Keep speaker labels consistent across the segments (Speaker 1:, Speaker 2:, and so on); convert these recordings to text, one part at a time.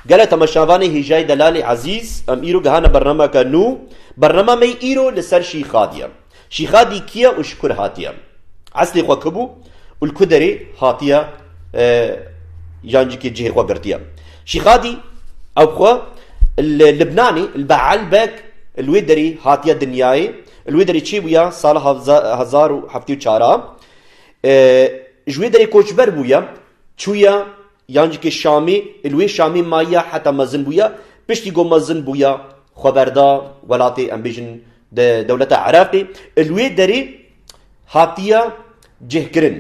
Speaker 1: Gele temaşavanê hêjayî delalê ezîz em îro gehane bernameke nû. Bernama me îro li ser Şîxadî ye. Şîxadî kî ye û ji ku re hatiye? Eslê xwe ku bû û li ku derê hatiye yan jî kê cihê xwe girtiye? Şîxadî ew xwe li Libnanê li Beelbek li wê derê hatiye dinyayê. Li wê derê çêbûye sala hezar û heftê û çar a. Ji wê derê koçber bûye çûye Yan jikê Şamê, li wê Şamê mayiya heta mezin bûya, piştî ku mezin bûya xwe berda welatê em bêjin di dewleta Iraqê, li wê derê hatiya cihkirin.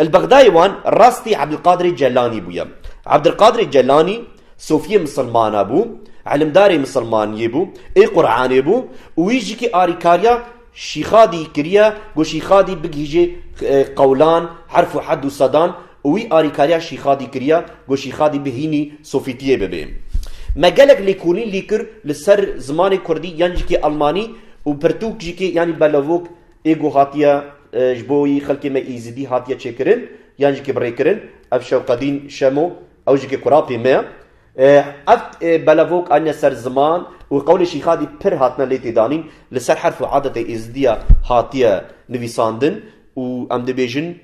Speaker 1: Li Bexdayê wan rastî Ebdilqadirê Celanî bûye. Ebdilqadirê Celanî sofiyê misilmana bû, ilimdarê misilmaniyê bû, ê Quranê bû û wî jikê arîkariya, Şîxadî kiriye ku Şîxadî bigihîje qewlan, herf û hed û sedan û wî arîkariya Şîxadî kiriye ku Şîxadî bi hînî Sofîtiyê bibe. Me gelek lêkolîn lî kir li ser zimanê kurdî yan jî kê elmanî û pirtûk jî kê yanî belavok ê ku hatiye ji bo wî xelkê me Êzidî hatiye çêkirin yan jî kê birêkirin. Ev Şewqedîn Şemo ew jî kê kurapê me ye. Ev belevok anîne ser ziman û qewlê Şîxadî pir hatine lê têdanîn, li ser herf û adetê Êzidî ya hatiye nivîsandin û em dibêjin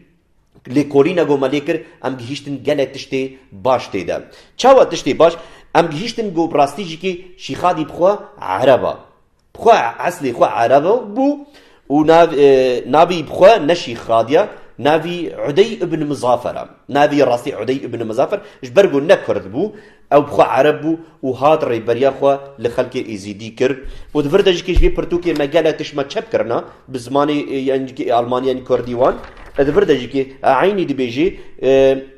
Speaker 1: lêkolî ne got me lê kir, em gihîştin gelek tiştê baş tê de. Çawa tiştê baş? Em gihîştin got bi rastî jîkê Şîxadî bi xwe ereb a. Xwe eslê xwe Ereb bû û navê xwe neşî xadiya navê Udey ibn Mizafer e. Navê rastî Udey ibn Mizafer ji ber ku ne kurd bû, ew xwe Ereb bû û hat rêberiya xwe li xelkê Êzîdî kir û di vir de jî vê pirtûkê me gelek tişma çep kirina bi zimanê yan jî Almanî yan Kurdî wan di vir de jî eynî dibêjê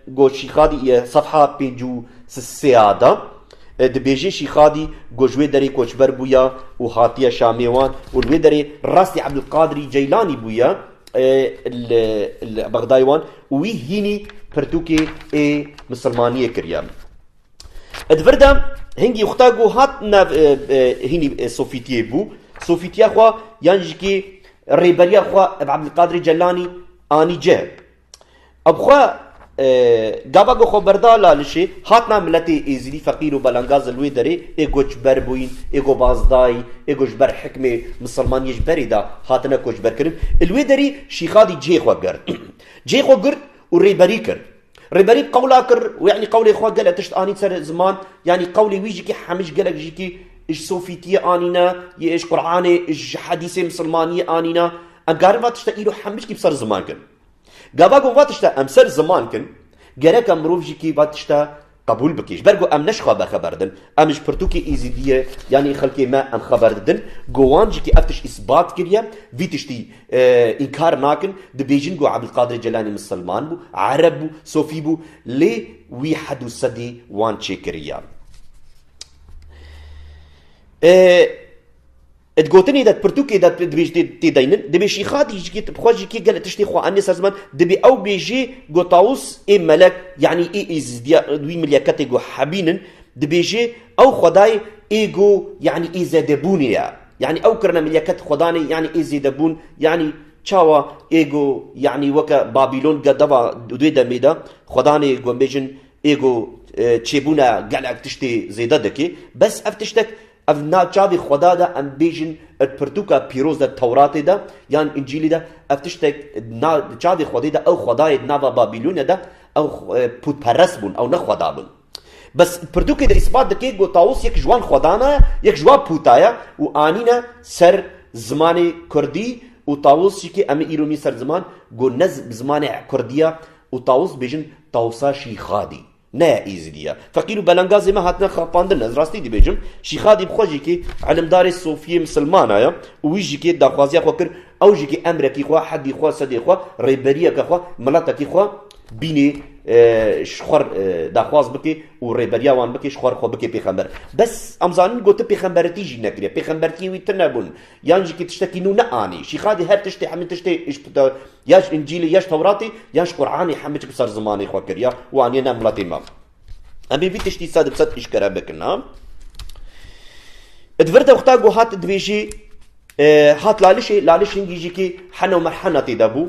Speaker 1: goşî xadî sefha pêncû sêya de. Dibêjî Şîxadî ku ji wê derê koçber bûye û hatiye Şamê wan û li wê derê rastî Ebdulkadirî Ceylanî bûye li Bexdayê wan û wî hînî pirtûkê ê misilmaniyê kiriye. Di vir de hingî xwta ku hat nav hînî sofîtiyê bû, sofîtiya xwe yan jîkî rêberiya xwe bi Ebdulkadirî Ceylanî anî cih. Ev xwe gava ku xweberda lalişê hatina miletê êzidî feqîr û belangaz li wê derê ê koçber bûyîn, ê gobazdayîn, ê ku ji ber hikmê misilman yê ji berê de hatine koçberkirin li wê derê Şîxadî cihê xwe girt. Cihê xwe girt û rêberî kir. Rêberî qewla kir û yanî qewlê xwe gelek tişt anîn ser ziman, yanî qewlê wî jî hemij gelek jî ji sofîtiyê anîne, ji Quranê, ji hedîsê misilmaniyê anîne. Em karin va tişta îro hemijkî bi ser ziman kin. Gava ku va tişta em ser ziman kin, gereka mirov jî kî va tişta qebûl bike. Ji ber ku em ne ji xwe ve xeber didin, em ji pirtûkê Êzîdiyê yanî xelkê me em xeber didin. Ku wan jî kî ev tişt îsbat kiriye, vî tiştî înkar nakin, dibêjin ku Ebûlqadirê Celanî misilman bû, ereb bû, sofî bû, lê wî hed û sedî wan çêkiriye. Di gotinê de di pirtûkê de dibêj tê deynin, dibê şîxa dîjikê bi xwe jî kê gelê tiştê xwe anîye ser ziman, dibê ew bêjê ku Taûs ê melek yanî ê Îzîdiya wî milyaketê ku hebîn in, dibêjê ew xwedayê ê ku yanî ê zêdebûnê ye. Yanî ew kirina milyaketê xwedanê yanî ê zêdebûn yanî çawa ê ku yanî weke Babîlon ke deva di wê demê de xwedanê ku em bêjin ê ku çêbûna gelek tiştê zêde dike. Bes ev tiştek Ev na çavê xweda de em bêjin di pirtûka pîroz de Tewratê de yan Încîlê de ev tiştek na di çavê xwedê de ew xwedayê di nava Babîlonê de ew pûtperest bûn ew ne xweda bûn. Bes di pirtûkê de îspat dike ku Taûs yek ji wan xwedana ye yek ji wan pûta ye û anîne ser zimanê kurdî û Taûs jî kê em îro nîn ser ziman ku ne bi zimanê kurdî ye û Taûs dibêjin Taûsa Şîxadî. Ne ya Êzidî ye. Feqîr û belengazê me hatine xapandin. Ez rastî dibêjim, Şîxa Dîbxwe jîkê îlimdarê Sofiyê misilmana ye û wî jîkê daxwaziya xwe kir, ew jîkê emrekî xwe, hedî xwe, sedê xwe, rêberiyeke xwe, miletekî xwe bînê ji xwe daxwaz bikê û rêberiya wan bikê, ji xwe xwe bikê pêxember. Bes em zanin ku tu pêxemberitî jî nekiriye, pêxembertiyê wî tu nebûn yan jîkê tiştekî nû neanî. Şîxa dê her tiştê hemî tiştê îşbita Ya ji Încîlê ya ji Tewratê ya ji Quranê hemû tişt bi ser zimanê xwe kiriye û aniye nav miletê me. Em ê vî tiştî sed bi sed îşkere bikin. Di vir de wexta ku hat dibêjî hat lalişê, laliş hingî jî kî hena û merhena tê de bû.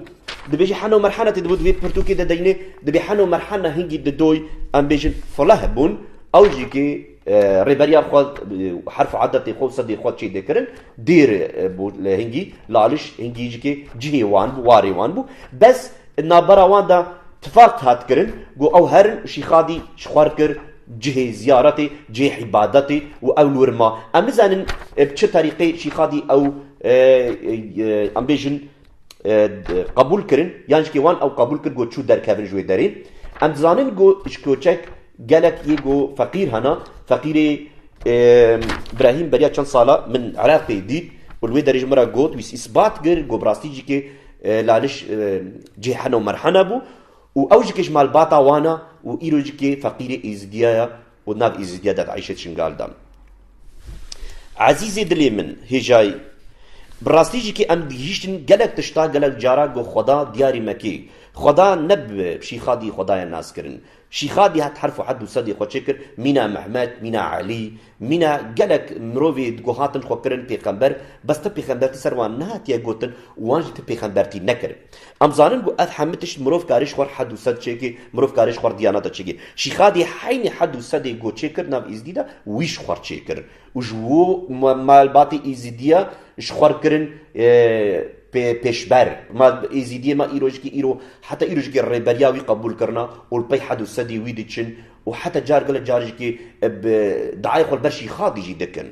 Speaker 1: Dibêjî hena û merhena tê de bû di vê pirtûkê de deynê dibê hena û merhena hingî di doy em bêjin fuleh bûn ew jî kî Rêberiya xwe herf adetê xwe û sedê xwe çê dikirin. Dêr bû li hingî, li Aliş hingî ji kê cihê wan bû, warê wan bû. Bes di navbera wan de tifaq hat kirin ku ew herin û Şîxadî ji xwe re kir cihê ziyaretê, cihê îbadetê û ew li wir ma. Em nizanin bi çi terîqê Şîxadî ew em bêjin, qebûl kirin yan jikê wan ew qebûl kir ku çû derkevin ji wê derê. Em dizanin ku ji koçek gelek yê ku feqîr hene. Feqîrê Brahîm beriya çend sala min Iraqê dît û li wê derê ji min re got wî îsbat kir ku bi rastî jikê laliş cihê hene û merhene bû û ew jikê ji malbata wan e û îro jikê feqîrê êzidiya ye û nav Îzîdiya dev Eyşê Çingal dan. Ezîzê dilê min, hêjayî, bi rastî jî kê em digihîştin gelek tişta gelek cara got xweda diyarî me kê. Xweda ne bi Şîxadî xwedaya nas kirin. Şîxadî het herf û hed û sedê xwe çêkir, mîna Mehmet, mîna Elî, mîna gelek mirovê di ku hatin xwe kirin pêxember, bes ti pêxembertî ser wan nehatiye gotin û wan jî ti pêxembertî nekirin. Em zanin ku ev hemû tişt mirov karê ji xwe hed û sed çêkê, mirov karê ji xwe diya neda çêkê. Şîxadê heynî hed û sedê ku çê kir nav Îzidî de wî ji xwe çê kir û ji wo malbatê Îzidiya ji xwe re kirin pêşber. Îzidiyê me îro ji îro heta îro ji rêberiya wî qebûl kirina û li pey hed û sedê wî diçin û heta car gelek car ji diayê xwe li ber Şîxadî jî dikin.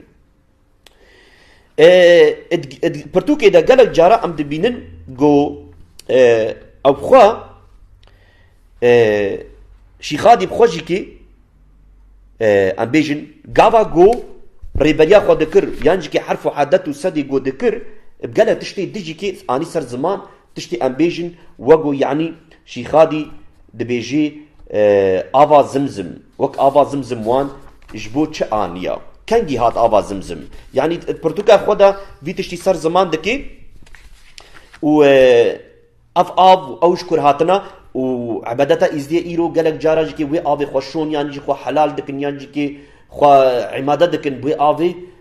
Speaker 1: Pirtûkê de gelek cara em dibînin ku ew xwe Şîxadî bi xwe jî kê em bêjin gava ku rêberiya xwe dikir yan jî kê herf û edet û sedê ku dikir bi gelek tiştê dijî kê anî ser ziman tiştê em bêjin wek ku yanî Şîxadî dibêjî Ava Zimzim wek Ava Zimzim wan ji bo çi aniya? Kengî hat Ava Zimzim? Yanî di pirtûka xwe de vî tiştî ser ziman dikê û ev av û ew ji ku re hatine û ebedeta Êzidiyê îro gelek caran jî kê wê avê xwe şon yanî jî xwe helal dikin yan jî kê xwe îmade dikin bi wê avê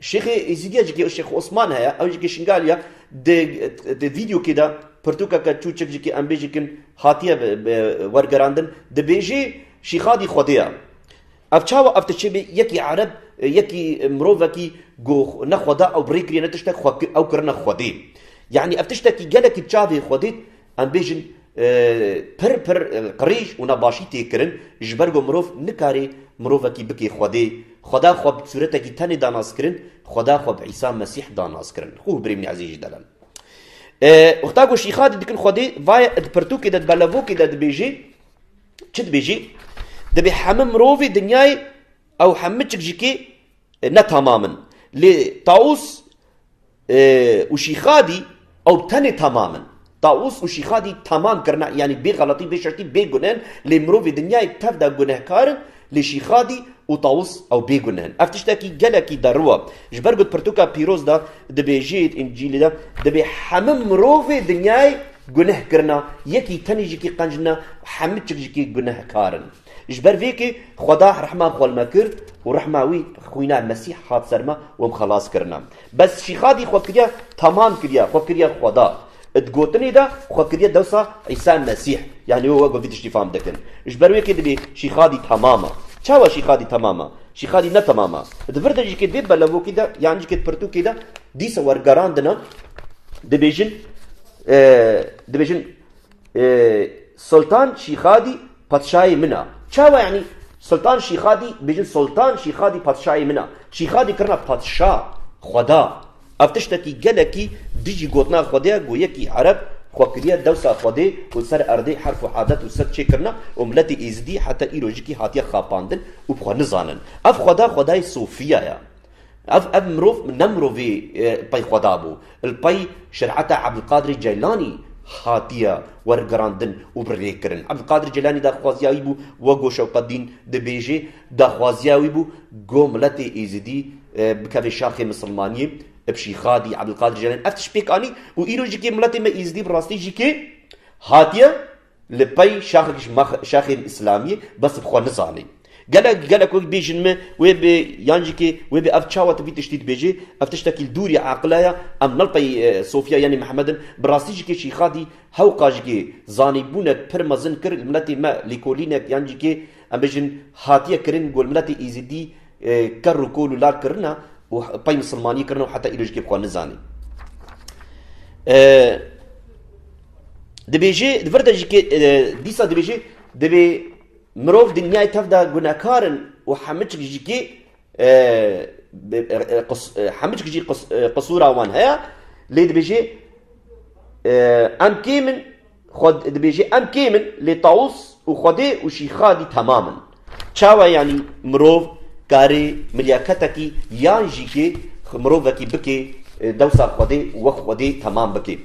Speaker 1: Şêxê Êzîdiya jî ke Şêx Osman heye ew jî ke Şingal ya di vîdyokê de pirtûkeke çûçik jî ke em bêjî kin hatiye wergerandin dibêjê Şîxadî Xwedê ya. Ev çawa ev tişt çêbê yekî ereb yekî mirovekî ku ne Xweda ew bi rê kiriye ne tiştek ew kirine Xwedê. Yanî ev tiştekî gelekî bi çavê Xwedê Em bêjin pir pir qirêj û nebaşî tê kirin ji ber ku mirov nikarê mirovekî bike Xwedê. Xweda xwe bi sûretekî tenê da nas kirin, Xweda xwe bi Îsa Mesîh da nas kirin. Xwe û birê min ezîz jî delal. Wexta ku şîxa dî dikin Xwedê, vaye di pirtûkê de, di belevokê de dibêjê, çi dibêjê? Dibê hemû mirovê dinyayê Ew hemû çikcikî ne tamam in. Lê Taûs û Şîxadî ew tenê tamam in. Taûs û Şîxadî tamam kirine yanî bê xeletî, bê şertî, bê guneh in. Lê mirovê dinyayê tev de gunehkar in. Lê Şîxadî û Taûs ew bê guneh in. Ev tiştekî gelekî deriw e. Ji ber ku di pirtûka pîroz de dibêjê yê di Încîlê de dibê hemû mirovê dinyayê guneh kirine, yekî tenê jikî qenc nîne, hemû çikcikî gunehkar in. Ji ber vê kê Xweda rehma xwe li me kir û rehma wî xwîna Mesîh hat ser me û em xelas kirine. Bes Şîxadî xwe kiriye tamam kiriye, xwe kiriye Xweda. Di gotinê de xwe kiriye dewsa Îsa Mesîh. Yanî wê we ku vî tiştî fam dikin. Ji ber wê kê dibê Şîxadî tamam e. Çawa Şîxadî tamam e? Şîxadî ne tamam e. Di vir de ji kê vê belevokî de yan ji kê pirtûkê de dîsa wergerandine dibêjin, dibêjin, Soltan Şîxadî patişayê min a. Çawa yanî Soltan Şîxadî bêjin Soltan Şîxadî patişayê min a. Şîxadî kirina patişa, xweda. Ev tiştekî gelekî dijî gotina xwedê ye ku yekî ereb xwe kiriye dewsa xwedê û ser erdê herf û adet û sed çêkirina û miletê êzidî heta îrojikî hatiye xapandin û bi xwe nizanin. Ev xweda xwedayê Sofiya ye. Ev ev mirov ne mirovê pey xweda bû. Li pey şereta Ebdulkadirê Ceylanî hatiye wergirandin û birêkirin. Ebdulkadirê Ceylanî daxwaziya wî bû wego Şewqetdîn dibêjê, daxwaziya wî bû ku miletê Êzidî bikeve şaxê misilmaniyê, bşîxadî Ebdulkadirê Ceylanî ev tişt pêk anî û îro jî kê miletê me Êzidî bi rastî jî kê hatiye Li pey şaxek ji şaxên îslamî bes bi xwe nizanê. Gelek gelek wek bêjin me wê bê yan jî kê wê bê ev çawa tu vî tiştî dibêjî ev tiştekî li dûrî eqila ye em nal pey Sofya yanî Mihemed in bi rastî jî kê Şîxadî hew qal jî kê zanîbûnek pir mezin kir li miletê me lêkolînek yan jî kê em bêjin hatiye kirin ku li miletê Êzidî kerr û kol û lar kirine û pey misilmanî kirine û heta îro jî kê bi xwe nizanê. Dibêje li vir de jî dîsa dibêje divê mirov dinyayê tev de gunekarin û hemû jî kê hemû jî qisûra wan heye lê dibêje em kêm in dibêje em kêm in lê tawus û xwedê û şîxa dî temam in. Çawa yanî mirov karê milyaketekî yan jî kê mirovekî bikê dewsa Xwedê wek Xwedê temam bikê.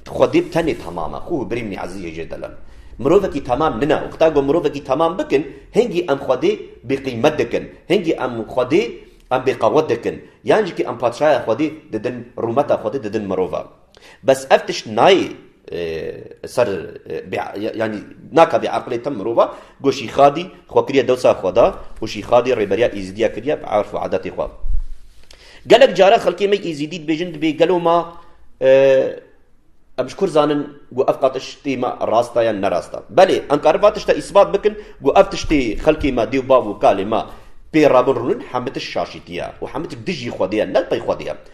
Speaker 1: Xwedê tenê temam e. Xû birîn mî ezîz hêjê delal. Mirovekî temam nine. Wexta ku mirovekî temam bikin hingî em Xwedê bêqîmet dikin. Hingî em Xwedê em bêqewet dikin. Yan jî kê em patşaya Xwedê didin rûmeta Xwedê didin mirova. Bes ev tişt nayê ser yanî naka bê eqilê tim mirova ku Şîxadî xwe kiriye dewsa xweda û Şîxadî rêberiya Îzîdiya kiriye bi erf û edetê xwe. Gelek care xelkê me Îzîdî dibêjin dibê gelo ma em ji kur zanin ku ev qatiştê me rast e yan nerast e. Belê em karin va tişta îsbat bikin ku ev tiştê xelkê me dêw bav û kalê me pê rabin rûnin hemitiş şaşîtî ye û hemitiş dijî xwedê ye ne pey xwedê ye.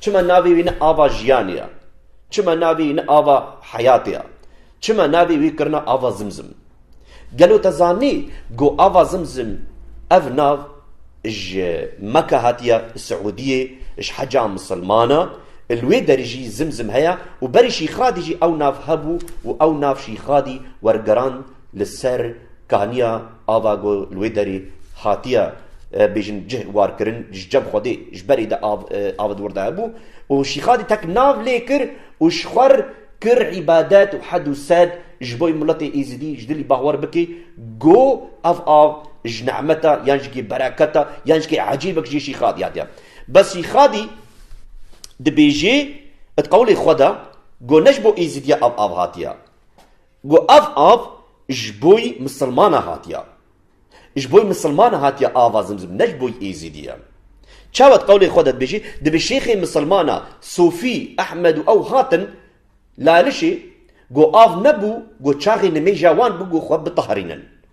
Speaker 1: Çima navê wî ne ava jiyanê ya? Çima navê wî ne ava heyatê ya? Çima navê wî kirina ava Zimzim? Gelo te zanî ku ava Zimzim ev nav ji Meka hatiye, li Siûdiyê ji heca misilman e, li wê derê jî Zimzim heye û berî Şîxradî jî ew nav hebû û ew nav Şîxradî wergerand Li ser kaniya ava ku li wê derê hatiye bêjin cih war kirin ji cem Xwedê ji berê de av av di wir de hebû û Şîxadî tek nav lê kir û ji xwer kir îbadet û hed û sed ji bo miletê Êzidî ji dilî bawer bike ku ev av ji nehmeta yan jikê bereketa yan jikê ecêbek jê Şîxadî hatiye. Bes Şîxadî dibêjê di qewlê xwe de ku ne ji bo Êzidî ev av hatiye. Ku ev av ji boî misilmana hatiya. Ji boî misilmana hatiya ava zimzim ne ji boî êzîdiye. Çawa di qewlê xwe de dibêjî, dibe şêxê misilmana sofî Ehmed û ew hatin lalişê ku av nebû ku çaxê nimêja wan bû ku xwe bitahrînin.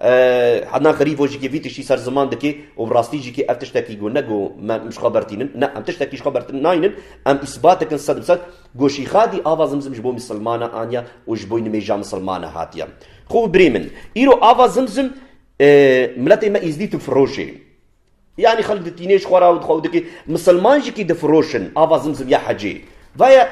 Speaker 1: Ednan Xerîfo jî vî tiştî ser ziman dike û bi rastî jî ev tiştekî ku ne ku me ji xwe bertîn in, ne em tiştekî ji xwe bertin nayîn in, em îsbat dikin sed bi sed ku Şîxadî ava Zimzim ji bo misilman e aniye û ji bo nimêja misilman e hatiye. Xo birê min, îro ava Zimzim miletê me Îzdî tu firoşê. Yanî xelk di tînê ji xwe re û di xwe dikê misilman jî kî difiroşin ava zim zim ya hecê. Vaya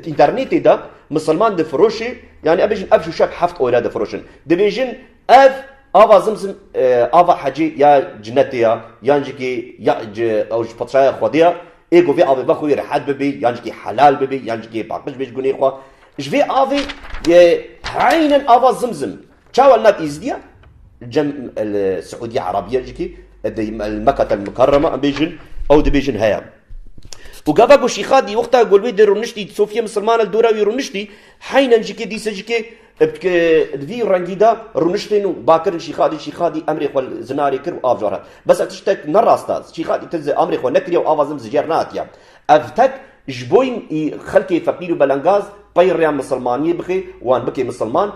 Speaker 1: înternetê de misilman difiroşê yanî em bêjin ev şûşek heft ore difiroşin. Dibêjin ev ava zim zim ava hecê ya cinetê ya yan jî kî ya ji ew ji petraya xwedê ya ê ku vê avê vex wî rehet bibê yan jî kî helal bibê yan jî kî paqij bê ji gunê xwe. Ji vê avê heynen ava zim zim Çawa li nav Îzidiya cem li Siûdiya Erabîya jikî di Mekata li Mikarrama em bêjin ew dibêjin heye. Û gava ku Şîxadî wexta ku li wê di rûniştî di Sofiya Misirmana li dora wî rûniştî heynen jikê dîsa jikê di vî rengî de rûniştên û bakirin Şîxadî Şîxadî emrê xwe li zinarê kir û av jar hat. Bes ev tiştek ne rast a. Şîxadî tu amrê xwe nekiriye û ava zin zijer nehatiye. Ev tek ji bo xelkê feqîr û belengaz pey rêya misilmaniyê bixê wan bike misilman,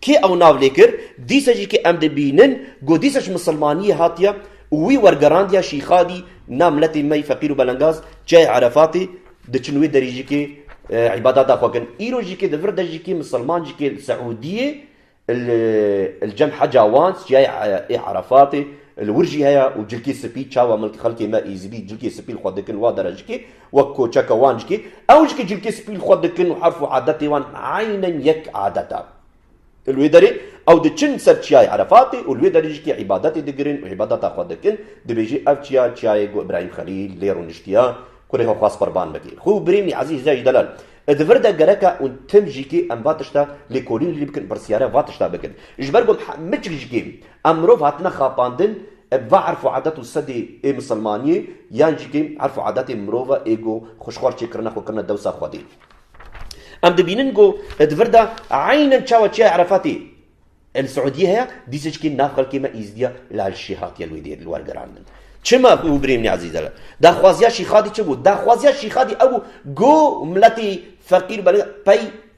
Speaker 1: Kê ew nav lê kir, dîsa jî kê em dibînin ku dîsa ji misilmaniyê hatiye û wî wergerandiye Şîxadî na miletê me yî feqîr û belengaz çiyayê Erefatê diçin wê derî jî kê îbadata xwe kin. Îro jî kê di vir de jî kê misilman jî kê li Siûdiyê li cem heca wan çiyayê Erefatê li wir jî heye û cilkê spî çawa xelkê me Êzidî cilkê spî li xwe dikin wa dere jî kê Wek koçeka wan jikê, ew jikê cilkê spî li xwe dikin û herf û adetê wan eynen yek adet e. Li wê derê ew diçin ser çiyayê Erefatê û li wê derê jikê îbadetê digirin û îbadeta xwe dikin, dibêjî ev çiya çiyayê ku Îbrahîm Xelîl lê rûniştiya ku rêxa xwest qurban bike. Xwe û birînî Ezîz Hicayî Delal e di vir de gereke û tim jikê em va tişta lêkolînê lê bikin pirsyare va tişta bikin. Ji ber ku em hemû çik jikê em mirov hatine xapandin, Ev va erf û adet û sedê ê misilmaniyê yan jî kêm erf û adetên mirov e ê ku xuşxwar çêkirina xwe kirine dewsa Xwedê. Em dibînin ku di vir de eynen çawa Çiya Erefatê li Siûdiyê heye, dîsa jî kêm nav xelkê me Îzdiya li Elşî hatiye li wê dê li wer girandin. Çima ku Brêmnî Ezîz e li daxwaziya Şîxadî çi bû? Daxwaziya Şîxadî ew bû ku miletê feqîr belê pey.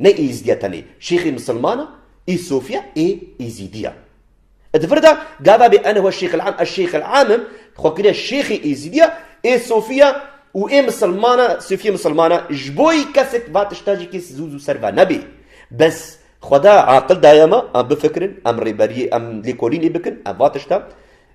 Speaker 1: Ne Îzîdî ya tenê şêxê misilman a, ê sofî ya, ê Îzîdî ya. E di vir de gava bê ene huwa şêxil am, ez şêxil am im, xwe kiriye şêxê Îzîdî ya, ê sofî ya û ê misilman a, sofîyê misilman a. Ji bo yî kesek va tişta jî kês zû zû ser ve nebê. Bes Xweda aqil daye me, em bifikirin, em rêberiyê, em lêkolînê bikin, em va tişta.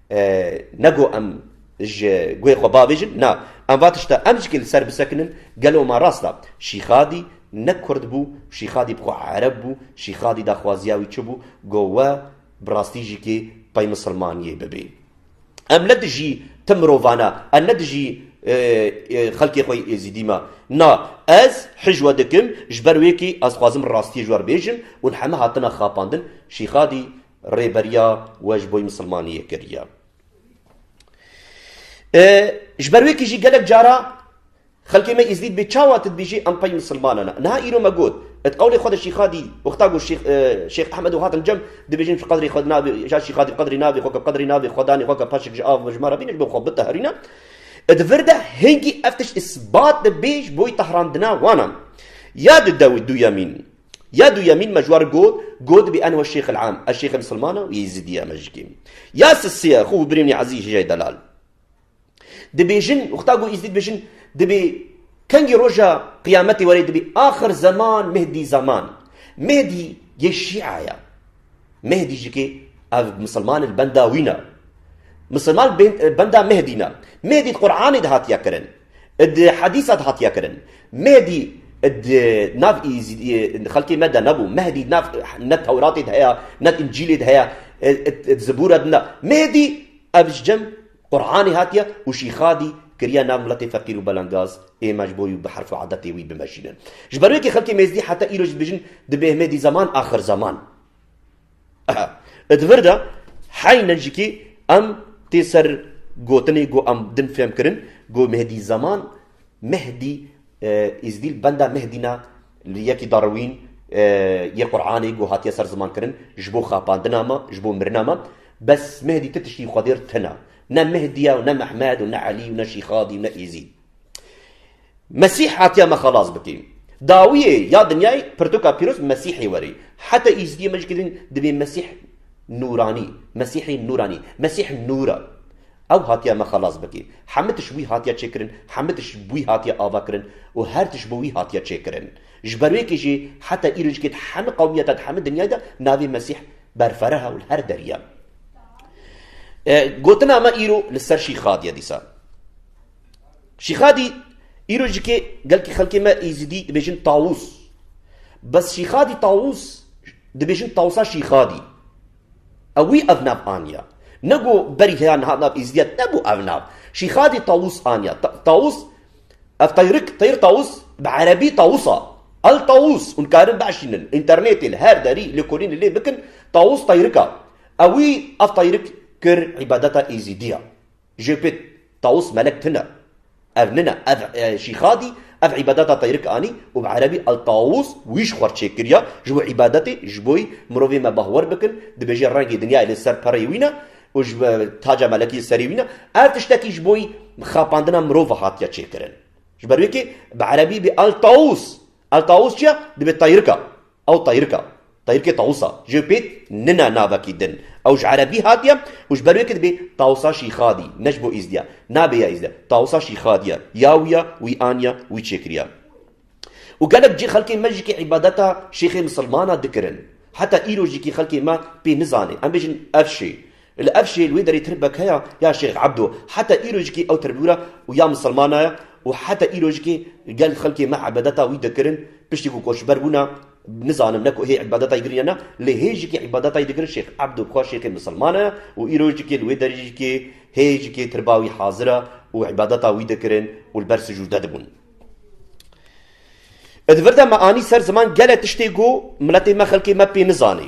Speaker 1: Ne ku em ji guhê xwe bavêjin, na, em va tişta em jî li ser bisekinin, gelo ma rast a, Şîxadî ne kurd bû, Şîxadî bi xwe ereb bû, Şîxadî daxwaziya wî çi bû, got we bi rastî jî kê pey misilmaniyê bibê. Em ne dijî tim mirovan a, em ne dijî xelkê xwe yê Êzîdî me, na, ez hîj we dikim, ji ber wê kê ez dixwazim rastiyê ji we re bêjim û heme hatine xapandin, Şîxadî Rêberiya we ji boy misilmaniyê kiriye. Ji ber wê ku jî gelek cara xelkê me Îzdîd bê çawa tu dibîjî em pey misilmane ne. Niha îro me got, di qewlê xwe de Şîxadî wexta got Şêx Ehmed û hatin cem dibêjin tu qedrê xwe navê ya Şîxadî qedrê navê xwe ke qedrê navê xwe danê xwe ke paşik ji av mijmar hebîne ji bo xwe biteherîne. Di vir de hingî ev tişt îsbat dibê ji boy tehrandina wan an. Ya di dewî duyemîn. Ya duyemîn me ji wan got, got bî enho şêx il am, ez şêxê misilman a û yêzîdî ye me jikê. Ya sisê ye xwe û birêwnî ezî ji jay delal dibêjin û xta got yêzîdî dibêjin dibê kengî roja qiyametê were dibê axir zeman mihdî zaman. Mihdî yê şîa ye. Mihdî jikê ev misilman il benda wî ne. Misilman benda mihdî ne. Mihdî di quranê de hatiye kirin. Di hedîsa de hatiye kirin. Mehdî di nav xelkê me de nebû. Mehdî ne ne tewratê de heye, ne încîlê de heye, zibûre de ne. Mehdî ev ji cem Quranê hatiye û Şîxadî kiriye nav miletê feqîr û belengaz, ême ji bo wî bi herf û edetê wî bimejînin. Ji ber wê kê xelkê Mêzdî heta îro jî dibêjin, Dibê Himêdî zeman axir zeman. Di vir de heyne jîkî em tê ser gotinê ku em din fêm kirin ku Mehdî Zaman, Mehdî Îzdîl benda Mehdî ne li yekî Darwîn yê Quranê ku hatiye ser ziman kirin ji bo xapandina me, ji bo mirina me. Bes Mehdî ti tiştî xwedêr tune. Ne Mehdî ye û ne Mehmed û ne Elî û ne Şîxadî û ne Îzîd. Mesîh hatiye me xelas bike. Dawiyê ya dinyayê pirtoka pîroz Mesîhê were. Heta Îzdiyê me ji kirîn divê Mesîh nûranî, Mesîhê nûranî, Mesîh nûr e. Ew hatiye me xelas bike. Hemû tişt wî hatiye çêkirin, hemû tişt bi wî hatiye avakirin û her tişt bi wî hatiye çêkirin. Ji ber wê kê jî heta îro ji kê di hemû qewmiyete, di hemû dinyayê de navê Mesîh berfereh e û li her derî ye. Gotina me îro li ser şîxadiye dîsa. Şîxadî, Îro ji kê gelkî xelkê me Êzidî dibêjin Tawûs. Bes Şîxadî Tawûs dibêjin Tawûsa Şîxadî. Ew wî ev nav aniya. Ne ku berî heya niha nav Êzidîya nebû ev nav. Şîxadî Tawûs aniya. Tawûs, ev teyrik, teyr Tawûs, bi erebî Tawûsa. El Tawûs, hûn karin biaşînin, înternetê li her derî, lêkolînê lê bikin, Tawûs teyrik a. Ew wî ev teyrik kir îbadeta Êzidî ya. Jêpêt, Tawus Melek tune. Ev nine, ev Şîxadî ev îbadeta teyrik anî û bi erebî El Tawus wîş xwar çêkiriya ji bo îbadetê ji bo mirovê me bahwer bikin, dibêje rengê dinyayê li ser pereyê wî ne û ji bo taca melekî li serê wî ne. Ev tiştekî ji bo xapandina mirov ve hatiye çêkirin. Ji ber wê kê bi erebî bê El Tawus. Al tawus çi ya? Dibe tayrika. Ew tayrika. Tayrikê tawusa. Jê pêt nina navekî din. Ew ji erebî hatiye û ji ber wê ke dibe tawusa şîxadî. Ne ji bo îzdî ya. Nabê ya îzdî ya. Tawusa şîxadî ya. Ya wî ya, wî aniya, wî çêkiriya. Û gelek cî xelkên me jî ke îbadeta şêxê misilmana dikirin. Heta îro jî kî xelkê me pê nizane. Em bêjin ev şê. Li ev jê li wê derê tirbekeya ya Şêx Ebdo heta îrojikê ew tirbûr e û ya misilmana ye û heta îrojikê gel xelkê me îbadeta wî dikirin, piştî ku koçber bûna nizanim ne ku hê îbadetayê girîn ya ne lê hê jikê îbadetayê dikirin Şêx Ebdo bi xwe şêxê misilmana ye û îrojikê li wê derîjikê hê jikê tirba wî hazir e û îbadeta wî dikirin û li ber sicûde dibûn. Di vir de me anî ser ziman gelek tiştê ku miletê me xelkê me pê nizanê.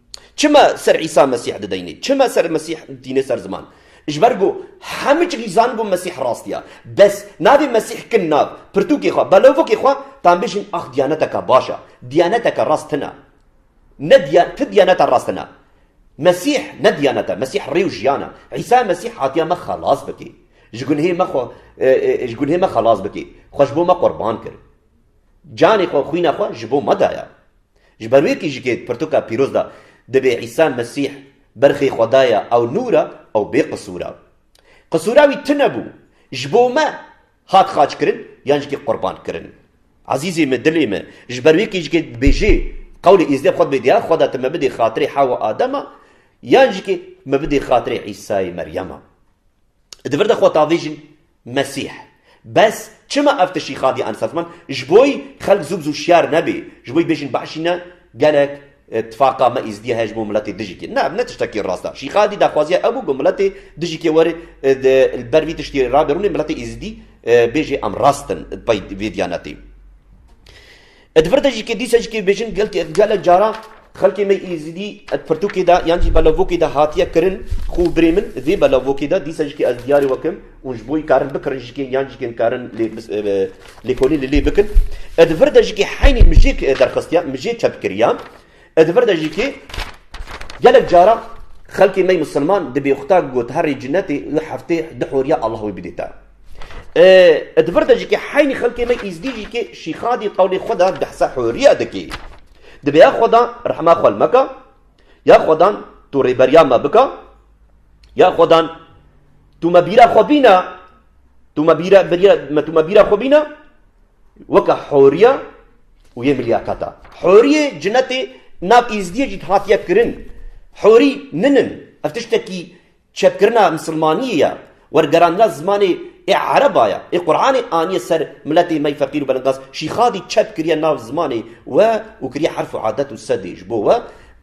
Speaker 1: Çima ser Îsa Mesîh dideyne? Çima ser Mesîh tîne ser ziman? Ji ber ku hemû cihîzan bû Mesîh rast ya. Bes, navê Mesîh kin nav, pirtûkê xwe, belovokê xwe, tan bêjin ax diyaneteke baş e, diyaneteke rast tune. Ne diyan, ti diyaneta rast tune. Mesîh ne diyanet e, Mesîh rê û jiyan e. Îsa Mesîh hatiye me xelas bike. Ji gunhê me xwe, ji gunhê me xelas bike. Xwe ji bo me qurban kir. Canê xwe, xwîna xwe ji bo me daye. Ji ber wê kîjikê di pirtuka pîroz de dibê Îsa Mesîh, berxê Xweda ye ew nûr e, ew bêqisûr e. Qisûra wî tune bû, ji bo me hat xaçkirin yan jî qurbankirin. Ezîzê me, dilê me, ji ber wê kîjikê dibêjê, Qewlê Êzdê bi xwe dibê diyar, Xweda tu me bidê xatirê Hewa Adema yan jî me bidê xatirê Îsayê Meryema. Di vir de xwe davêjin Mesîh. Bes çima ev tiştî xadiye an sazman ji bo xelk zû bi zû şiyar nebê, ji bo bêjin Beşî ne gelek tifaqa me Êzidiya heye ji bo miletê dijîkê. Ne ev ne tiştekî rast e. Şîxadî daxwaziya ew bû ku miletê dijîkê were li ber vî tiştî rabê rûnê miletê Êzidî bêjê em rast in di pey vê diyanetê. E di vir de jî ke dîsa jî ke bêjin gelek caran xelkê me Êzidî e di pirtûkê de yan jî belavokê de hatiye kirin xwe birê min vê belavokê de dîsa jî ke ez diyarê we kim û ji bo karin bikirin jî ke yan jî ke karin lêkolîn li lê bikin e di vir de jî ke heynî mijêk derxestiya mijê çepkiriya E di vir de jî kê gelek caran xelkê mey misilman di bêxuta got herrê cinetê û heftê di horiya Allah wê bidê te. E di vir de jî kê heynî xelkê mey îzdî jî kê şîxadî qewlê xwe da dehsa horiya dikê. Dibe ya xweda rehma xwe li me ka, ya xwedan tu rêberiya me bika, ya xwedan tu me bîra xwe bîne Tu me bîra birîya me tu me bîra xwe bîne weke horiya û yê milyakata. Horiyê cinetê nav îzdiyê jî hatiye kirin. Horî min in. Ev tiştekî çepkirina misilmaniyê ye. Wergerandina zimanê ê ereba ye. Ê Quranê aniye ser miletê me yê feqîr û belingaz. Şîxadî çep kiriye nav zimanê we û kiriye herf û adet û sedê ji bo we.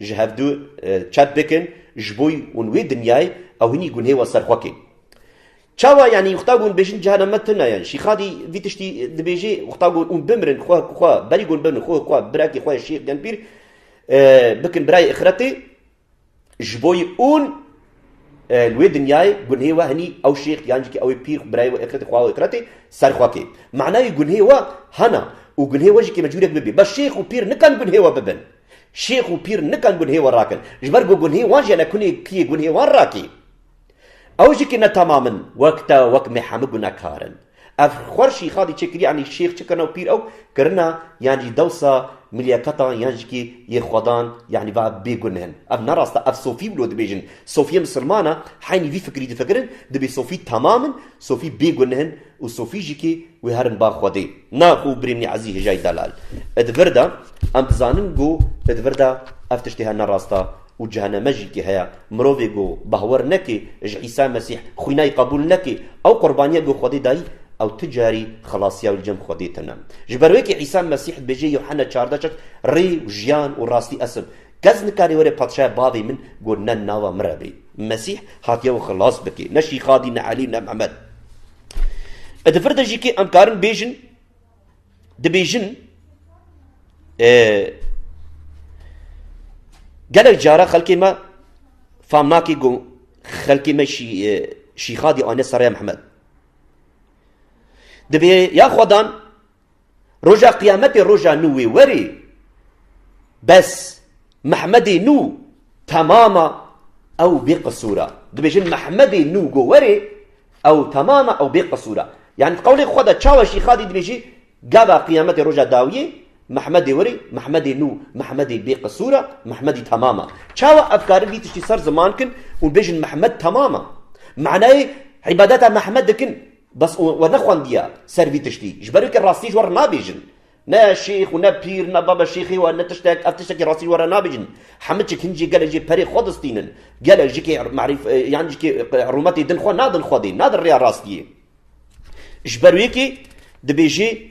Speaker 1: Ji hevdu çep bikin ji bo ûn wê dinyayê ew hinî gunhê wa ser xwe kên. Çawa yanî wexta gon bêjin cihana me tune ye. Şîxadî vî tiştî dibêjê wexta gon ûn bimirin xwe ku xwe berî gon bin xwe ku birekê xwe Şîx Genpîr bikin birayê îxiretê ji bo ûn li wê dinyayê gunhê we hinî ew şîx yan jî ew ê pîr xwe birayê we îxiretê xwe û îxiretê ser xwe kê. Manayê gunhê we hena û gunhê we jî kê me curek bibê. Bes şîx û pîr nikan gunhê we bibin. Şêx û pîr nikan gunhê we rakin, ji ber ku gunhê wan jî ne kunê kiyê gunhê wan rakî. Ew jî ki ne tamam in, wek te wek me hemû gunekar in. Ev xwer şîxa dî çêkirî yanî şêx çi kirina û pîr ew kirina yan jî dewsa milîyekatan yan jî ki yê xwedan yanî va ev bêguneh in. Ev ne rast e, ev sofî wilo dibêjin. Sofî yên misilman e, heynî vî fikirî difikirin, dibê sofî tamam in, sofî bêguneh in, Û sofî jî kî wî herin ba xwedê. Na ku birînî ezî hijayî delal. Id vir de em dizanin ku id vir de ev tiştê he ne rast e û ceheneme jî kî heye. Mirovê ku bahwer nekê ji Îsa Mesîh, xwînayî qebûl nekê, ew qurbaniya ku xwedê dayî, ew ti carî xelasiya wî li cem xwedê tine. Ji ber wê kî Îsa Mesîh dibêje Yuhena çardeh şeş, Rê û jiyan û rastî es'im. Kes nikarî were padşaya bavê min got ne nava min re bê. Mesîh hatiye wê xilas bike, ne Şîxadî, ne Elî, ne Mihemed. Bi difir de jî kê em karin bêjin, dibêjin gelek cara xelkê me fam nake ku xelkê me Şîxadî anîne ser rêya Mihemed. Divê ya xwedan Roja qiyametê roja nû wê werê bes Mehmedê nû temam a ew bê qisûr a. Dibêjin Mehmedê nû go werê ew temam a ew bê qisûr a. Yanî di qewlê xwe de çawa jî Xadî dibêjî gava qiyametê roja dawiyê Mehmedê werê Mehmedê nû Mehmedê bê qisûr a Mehmedî temam a. Çawa ev karin vî tiştî ser ziman kin û bêjin Mehmed temam a? Manayê îbadeta Mehmed dikin. Bes we nexwendiye ser vî tiştî, ji ber wê ke rastî ji we re nabêjin. Ne şêx û ne pîr ne baba şêxê we ne tiştek, ev tiştekî rastî ji we re nabêjin. Hemiçik hin jê gelê jê perê xwe distînin. Gelê jikê merîf yan jikê rûmetê din xwe nadin Xwedê, nadin rêya rastiyê. Ji ber wê ke dibêjê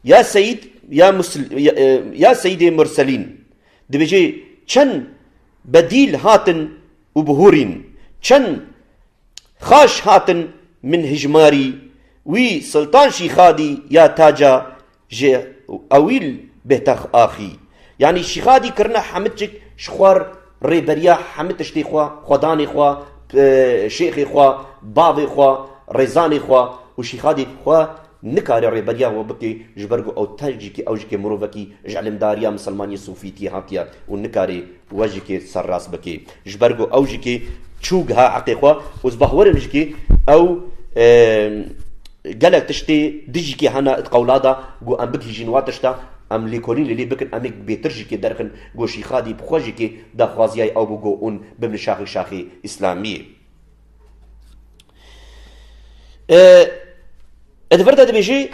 Speaker 1: ya Seyîd ya ya Seyîdê Murselîn. Dibêjê çend bedîl hatin û bihûrîn. Çend Xaş hatin min hijmarî wî Siltan Şîxadî ya taca ji ewîl bêtex axî. Yanî Şîxadî kirina Hemidcik ji xwar rêberiya hemî tiştê xwe, xwedanê xwe, şêxê xwe, bavê xwe, rêzanê xwe û Şîxadî xwe Nikare rêberiya wan bike ji ber ku ew ters jî ke ew jike mirovekî ji îlimdariya misilmaniyê sofîtiyê hatiye û nikare we jike serrast bike ji ber ku ew jike çû giha heqê xwe û ez bawer im jike ew gelek tiştê di jike hene di qewla de ku em bigihîjin wan tişta em lêkolîn li lê bikin em ê bêtir jike derxin ku Şîxadî bi xwe jike daxwaziya ew bû ku hûn bibin şaxê şaxê îslamiyê. Li vir de dibêjî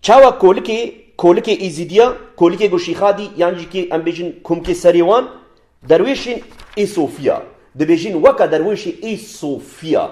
Speaker 1: çawa kolikê kolikê Êzîdiya, kolikê ku Şîxadî yan jî kê em bêjin kumkê serê wan derwêşên Êsofiya dibêjin weke derwêşê Êsofiya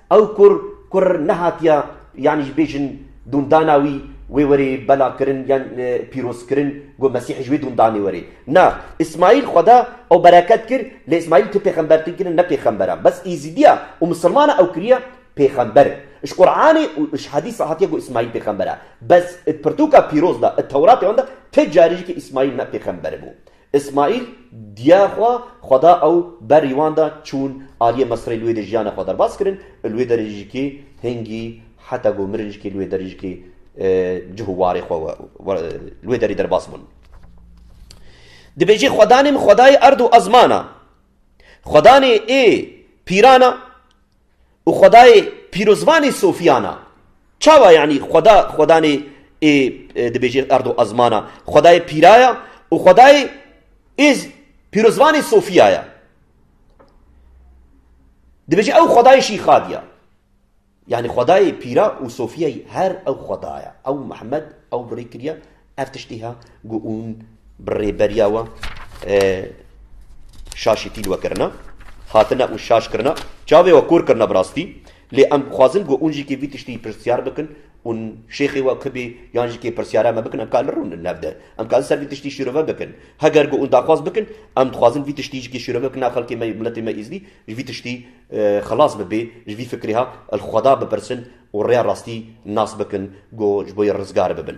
Speaker 1: Ew kur kur nehatiye yanî ji bêjin dûndana wî wê were belakirin yan pîrozkirin ku Mesîhê ji wê dûndanê were. Na, Îsmaîl xweda ew bereket kir lê Îsmaîl tu pêxembertir kirin ne pêxember e. Bes Êzîdiya û Misilmana ew kiriye pêxember. Ji Quranê û ji hedîsa hatiye ku Îsmaîl pêxember e. Bes di pirtûka pîroz de, di Tewratê wan de ti carî jî ki Îsmaîl ne pêxember bû. Îsmaîl diya xwe xwe da ew berî wan de çûn aliyê Misirê li wê de jiyana xwe derbas kirin û li wê de jî kê hingî heta ku mirin jî kê li wê de jî kê cih û warê xwe li wê derî derbas bûn. Dibêjê xwedanê min xwedayê erd û ezman a. Xwedanê ê pîran a, û xwedayê pîrozvanê sofiyan a. Çawa yanî xweda xwedanê ê dibêjê erdo ezman a, xwedayê pîra ya û xwedayê ê pîrozvanê sofiya ya. Dibêjê ew xwedayê şîxad ya. Yanî xwedayê pîra û sofiyayî her ew xweda ya. Ew Mihemmed ew birêkiriya Ev tiştî ha ku ûn bi rêberiya wan şaşî tîl we kirina, hatine ûn şaş kirina, çavê we kor kirina bi rastî. Lê em dixwazin ku ûn jî kê vî tiştî pirsyar bikin ûn şêxê we ki bê yan jî kê pirsyara me bikin em ka li rûn in hev de. Em ka li ser vî tiştî şîrove bikin. Heger ku ûn daxwaz bikin em dixwazin vî tiştî jî kê şîrove bikin a xelkê me miletê me Êzidî ji vî tiştî xilas bibê, ji vî fikrê ha li xweda bipirsin û rêya rastî nas bikin ku ji bo yê rizgar bibin.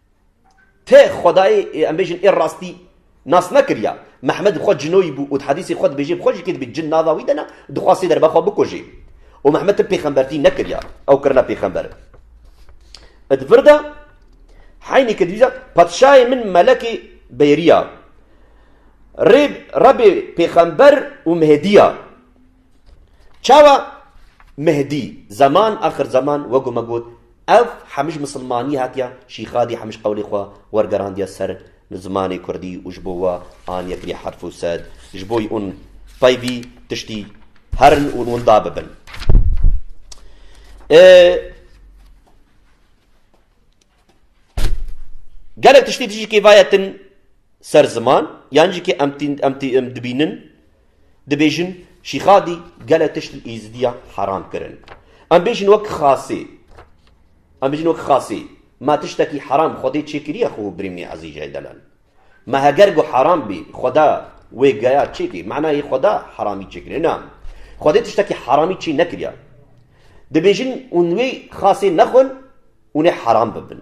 Speaker 1: Tê xwedayê em bêjin ê rastî nas nekiriya. Mehmed bi xwe cinoyî bû û di hedîsê xwe dibêje bi xwe jî kê dibî cin nava wî de ne û dixwast sê derba xwe bikujê. Û Mehmed tim pêxembertî nekiriya. Ew kirine pêxember. Di vir de heynî ke dîwîza Patişayê min melekê bêriya. Rê Rebê pêxember û Mehedî ya. Çawa Mehdî zaman axir zaman wego me got ev hemij misilmanî hatiya Şîxadî hemij qewlê xwe wergerandiya ser zimanê kurdî û ji bo we aniye kirî herf û sed ji bo ûn peyvî tiştî herin û winda bibin. Gelek tiştî tijî kêvayetin ser ziman yan jî kê em tîn em tî em dibînin Dibêjin Şîxadî gelek tişt li Êzidiya heram kirin. Em bêjin wek Xasê. Em bêjin wek Xasê. Ma tiştekî heram Xwedê çêkiriye xwe û birîmnê Ezîjeyê delan. Ma heger got heram bî, Xweda wê geya çêkê. Manayê Xweda heramî çêkiriye. Na. Xwedê tiştekî heramî çê nekiriye. Dibêjin hûn wê Xasê nexwin, hûn ê heram bibin.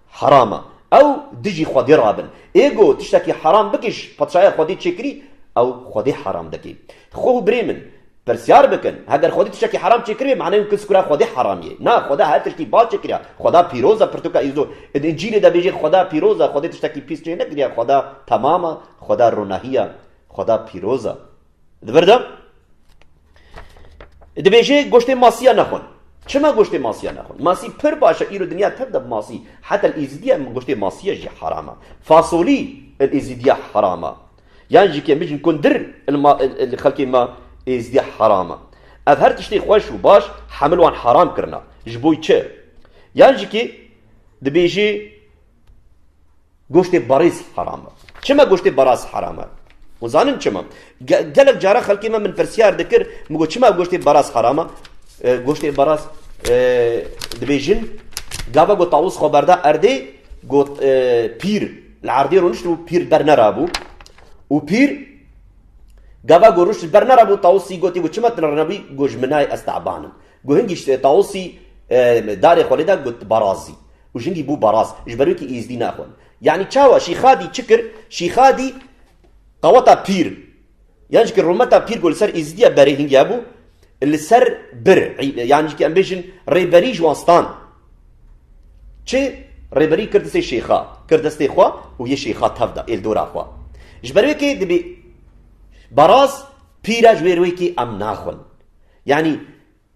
Speaker 1: Heram e. Ew dijî Xwedê rabin. Ê got, Tiştekî heram bikiş, petşahiya Xwedê çêkirî, ew Xwedê heram dike. Xwe û birê min, pirsyar bikin, heger Xwedê tiştekî heram çêkiribe, maneyê wke sikura Xwedê heram ye. Na, Xweda her tiştî baş çêkiriya. Xweda pîroz e, pirtûka Îzo di Încîlê de bêje, Xweda pîroz e, Xwedê tiştekî pîs çênekiriya, Xweda temam e, Xweda ronahî ye, Xweda pîroz e. Di ber de dibêje goştê masiya nexwin. Çima goştê masiya nexwin? Masî pir baş e îro dinya tev de bi masî. Heta li Êzidiya goştê masiya jî heram e. Fasolî li Êzidiya heram e. Yan jî ke mijin kundir li xelkê me Êzidiya heram e. Ev her tiştê xweş û baş hemil wan heram kirine. Ji bo çi? Yan jî ke dibêje Goştê barîs heram e. Çima goştê baras heram e? Hûn zanin çima? Gelek cara xelkê me min pirsiyar dikir, min got çima goştê baras heram e? Goştê baras dibêjin gava got tawûs xwe berda erdê got pîr li erdê rûniştibû pîr ber nerabû û pîr gava got rûşt ber nerabû tawûsî gotî got çima tinrenabî got ji min nayê ez tabanim. Got hingî tawûsî darê xwe lêda got barazî. Û jingî bû baraz, ji ber wê kî Îzdî naxwend. Yanî çawa? Şîxadî çi kir? Şîxadî qeweta pîr yan jî kir rûmeta pîr ku li ser Îzîdîya berê hingiya bû, li ser bir yan jî kî em bêjin rêberî ji wan stand. Çi? Rêberî kir distê şêxa, kir destê xwe û yê şêxa tev da, êldora xwe. Ji ber wê kê dibê baraz pîr e ji wê rê wê kê em naxwin. Yanî.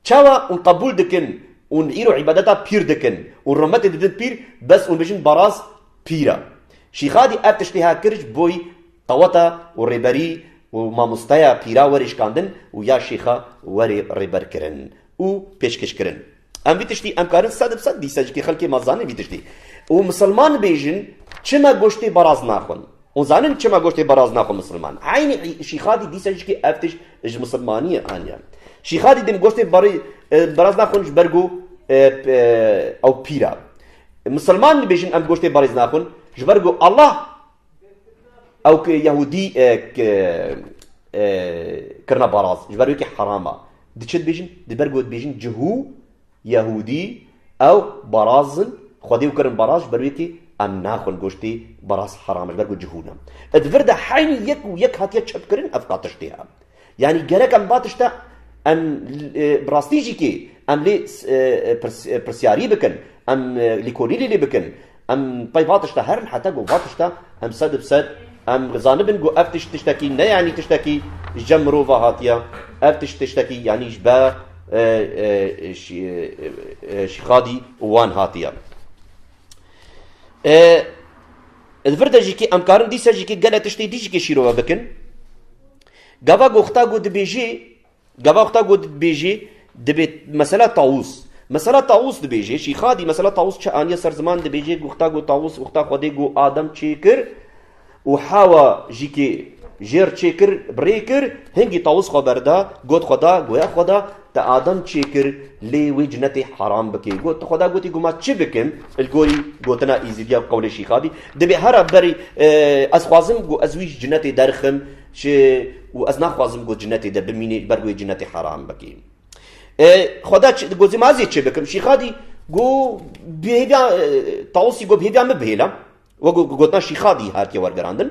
Speaker 1: Çawa ûn qebûl dikin ûn îro îbadeta pîr dikin û rûmetê didin pîr bes ûn bijin baraz pîr a. Şîxadî ev tiştê ha kir ji boî qeweta û rêberî û mamosteya pîra werê şikandin û ya şêxa werê rêber kirin û pêşkêş kirin. Em vî tiştî em karin sed bi sed dîsa jî kê xelkê ma zanin vî tiştî û misilman bêjin çima goştê baraz naxwin. Hûn zanin çima goştê baraz naxwe misilman? Eynî Şîxadî dîsa jikê ev tişt ji misilmaniyê aniye. Şîxadî din goştê barî baraz naxwin ji ber ku ew pîr e. Misilman dibêjin em goştê barîz naxwin ji ber ku Allah ew ki Yehûdî kirine baraz ji ber wê ki heram e. Di çi dibêjin? Di ber ku dibêjin cihû Yehûdî, ew baraz in, xwedê û kirin baraz, ji ber wê kî em naxwin goştê baraz heram e, ji ber ku cihûn e. E di vir de heynî yek û yek hatiye çepkirin ev ka tiştê e. Yanî gerek em va tişte em bi rastî jî kê em lê pirsiyarî bikin, em lêkolînê lê bikin, Em pey va tişta herin heta ku va tişta em sed bi sed em zanibin ku ev tişt tiştekî ne yanî tiştekî ji cem mirov ve hatiye. Ev tişt tiştekî yanî ji ber Şîxadî û wan hatiye. Li vir de jî kî em karin dîsa jî kî gelek tiştê dî jî kî şîrove bikin. Gava goxta ku dibêjî Gava xwe ta ku dibêjî dibê mesela tawûs. Mesela tawûs dibêjê Şîxadî mesela tawûs çi aniye ser ziman dibêjê ku xwe ta ku tawûs û xwe ta Xwedê ku Adem çêkir û Hewa jî ki jêr çêkir bi rê kir hingî tawûs xwe berda got xwe da goya xwe da te Adem çêkir lê wê cinetê heram bikê got xwe da gotî ku ma çi bikim li gorî gotina Îzîdî ya qewlê Şîxadî dibê hera berî ez xwazim ku ez wî ji cinetê derxim Çi û ez naxwazim ku cinetê de bimînî ji ber wê cinetê heram bikî. Xweda gozê ma ez ê çêbikim. Şîxadî got bi hêviya Tawusî got bi hêviya min bihêle. Wek ku gotina Şîxadî hatiye wergerandin.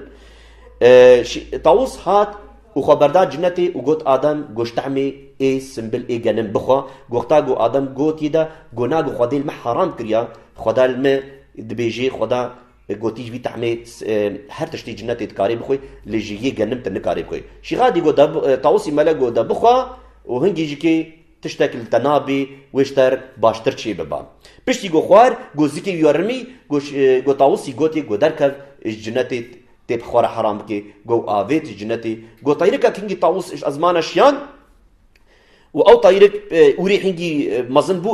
Speaker 1: Tawus hat û xwe berda cinetê û got Adem goş tehmê ê simbil ê genim bixwe. Wexta ku Adem got yê de got na ku xwedê li me heram kiriye, xweda li me dibêjê xweda Gotî ji vî tehmê her tiştî cinetê dikarê bixwe lê ji yê genim te nikarê bixwe. Şîxa dî got Tawusî mele got de bixwe û hingî ji kê tiştek li te nabê wê ji te baştir çê biba. Piştî got xwar got zikê wî rimî got Tawusî gotê got derkev ji cinetê tê bi xwe re heram bikê got avêt ji cinetê got teyrikek hingî Tawus ji ezmana şiyan Û ew tayîrek wîrê hingî mezin bû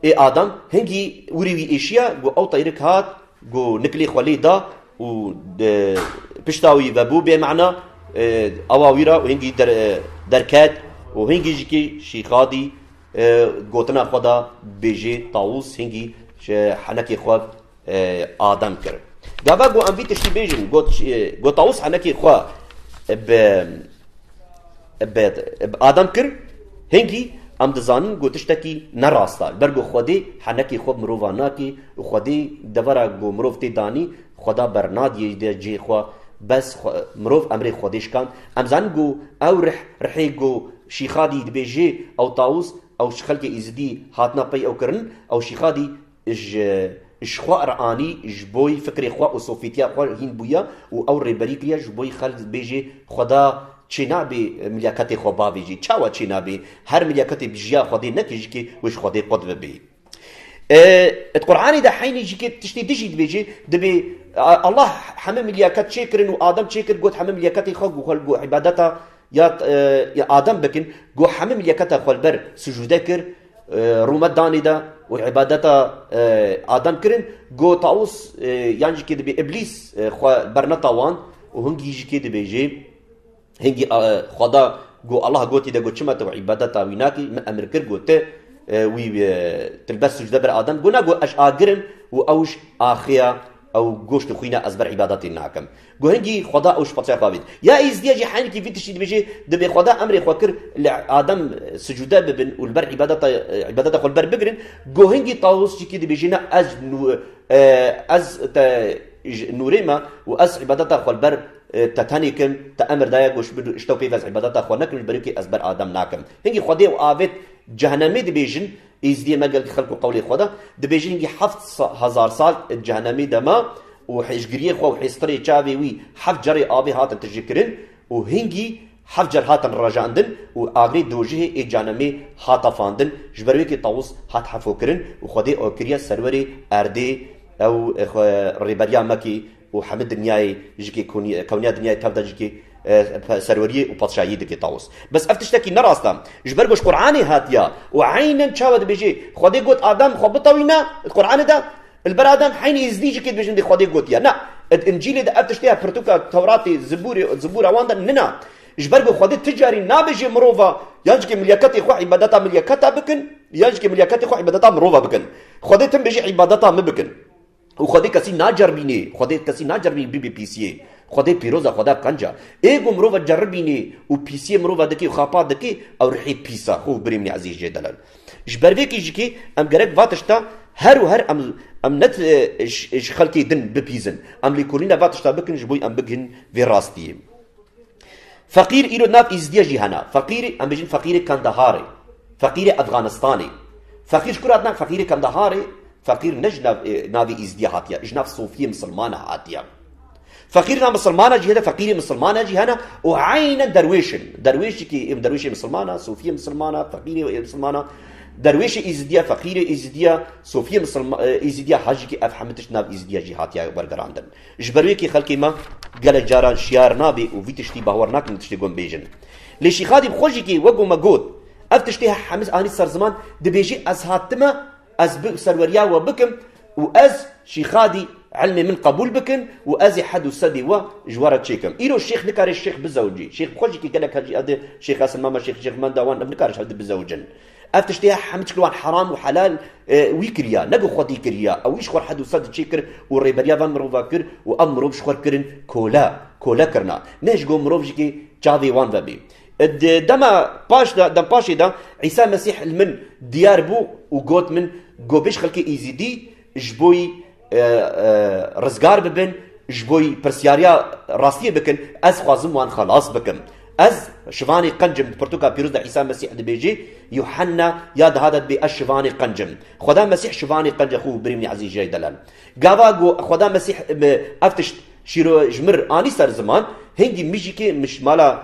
Speaker 1: ê Adam, hingî wîrê wî êşiya ku ew tayîrek hat ku nikilê xwe lê da û di pişta wî ve bû bêmana, ewa wî ra hingî derket û hingî jikê şîxadî gotina xwe da bêjê Tawûs hingî henekê xwe Adem kir. Gava ku em vî tiştî bêjin ku Tawus henekî xwe bi Adem kir, hingî em dizanin ku tiştekî ne rast e. Li ber ku Xwedê henekî xwe bi mirovan nake û Xwedê devera ku mirov tê danî Xweda bernadîye cihê xwe. Bes mirov emrê Xwedê şikand. Em zanin ku ew rih, rihê ku Şîxadî dibêje ew Tawus, ew ji xelkê Êzidî hatina pey ew kirin, ew Şîxadî Ji xwe re anî, ji bo fikrê xwe û sofîtiya xwe hîn bûye û ew rêberî kiriye ji bo xelk bêjê Xweda çênabê milyaketê xwe bavê jî. Çawa çênabê? Her milyaketê bi jiya Xwedê neke jî ke wê ji Xwedê qut bibê. Di Quranê de heynî jî ke tiştê dijî dibêje, dibê Allah heme milyaket çêkirin û Adem çêkir got heme milyaketê xwe xwel got îbadeta ya Adem bikin, got heme milyaketa xwe li ber sicûde kir, Rûmet danî de û îbadeta Adem kirin, got Tawus, Yan jî kê dibê Îblîs xwe berneta wan û hingî jî kê dibê jê hingî xweda got Allah gotî de got çima tu îbadeta wî nakî min emir kir got tu wî tilbes sûcde bir Adem got na got ez agir im û ewş axiya Ew goşt û xwîna ez ber îbadetê nakim. Guhingî Xweda ew ji peteya xwe avêt. Ya Êzidîya jî heynekî vî tiştî dibêje, dibê Xweda emrê xwe kir li Adem sicûde bibin û li ber îbadeta xwe li ber bigirin. Guhingî Tawus jî kî dibêje na ez ez te ji nûrê me û ez îbadeta xwe li ber te tenê kim, te emr daye goşt bi ji te pêv ez îbadeta xwe nekim ji ber wê kê ez ber Adem nakim. Hingî Xwedê ew avêt cehenemê dibêjin. Êzidiyê me gelkî xelk û qewlê xwe da. Dibêjin gî heft hezar sal di cehenemê de ma û hêşgiriyê xwe û hêstirê çavê wî heft carê avê hatin tijîkirin û hingî heft car hatin rejandin û agrê dojihê ê cehenemê hat afandin. Ji ber wê kê Tawus hat hefokirin û xwedê akiriye serwerê erdê ew rêberiya me kê Û hemî dinyayê jikê kewniya dinyayê tev de jikê serweriyê û patşahiyê dikê tawis. Bes ev tiştekî ne rast e. Ji ber ku ji Quranê hatiye û eynen çawa dibêjê Xwedê got Adam xwe bitewîne di Quranê de li ber Adam heyni Êzidî jikê dibêjin dê Xwedê gotiye ne. Di Încîlê de ev tiştê ya pirtûka Tewratê, Zibûrê, Zibûra wan de nine. Ji ber ku Xwedê ti carî nabêjê mirova yan jikê milyaketê xwe îbadeta milyaketa bikin yan jikê milyaketê xwe îbadeta mirova bikin. Xwedê tim bêjê îbadeta min bikin. Û Xwedê kesî naceribînê, Xwedê kesî naceribînê bibê pîsiyê. Xwedê pîroz e, Xweda qenc e. Ê ku mirov e ceribînê û pîsiyê mirov e dikê û xapa dikê, ew rihê pîs e, xwe û birê min ezîz jê delal. Ji ber vê kêjikê em gerek va tişta her û her em ne ji xelkê din bipîzin, em lêkolîna va tişta bikin ji bo em bigihînin vê rastiyê. Feqîr îro nav Îzidîya jî hene. Feqîr em bêjin feqîrê Kandaharê, feqîrê Efxanistanê. Feqîr ji ku re hatine feqîrê Kandaharê, feqîr ne ji navê Îzidîya hatiye, ji nav Sofîyê Misilmane hatiye. Feqîr nav Misilmane jî hene, feqîrê Misilmane jî hene û eynen derwêş in. Derwêşekî derwêşê Misilmane, Sofîyê Misilmane, feqîrê Misilmane. Derwêşê Îzidîya, feqîrê Îzidîya, Sofîyê Îzidîya, hajikî ev hemû tişt nav Îzidîya jî hatiye wergerandin. Ji ber wê kê xelkê me gelek caran şiyar nabe û vî tiştî bawer nakin bi tiştê gon bêjin. Lê Şîxadîb xwe jî kê wego me got, Ev tiştê hemiz anî ser ziman, dibêjî ez hatime ez bi serweriya we bikim û ez, Şîxadî, ilmê min qebûl bikin û ez ê hed û sedê we ji we re çêkim. Îro şêx nikare şêx bizewicî. Şêx bi xwe jî kê gelek hecî edi, şêx Esin Mame, şêx Şêx Menda wan ev nikare ji hev di bizewicin. Ev tiştê ya hemû çik li wan heram û helal wî kiriya, ne bi xwedî kiriya, ewî ji xwe hed û sed çê kir û rêberiya van mirovan kir û ev mirov ji xwe kirin kole, kole kirina, ne ji bo mirov jîkê çavê wan vebê. Di dema paş de, dempaşê de Îsa Mesîh li min diyar bû û got min, Govbêj xelkê Îzîdî ji bo rizgar bibin ji bo pirsyariya rastiyê bikin ez xwazim wan xelas bikim. Ez şivanê qencim di pirtûka pîroz de Îsa Mesîh dibêjê Yuhenna ya diha de dibê ez şivanê qencim. Xweda Mesîh şivanê qenca xwe û birîmî ezîz jê delal. Gava ku Xweda Mesîh ev tişt şîro ji mir anî ser ziman hingî mijîkê min ji mala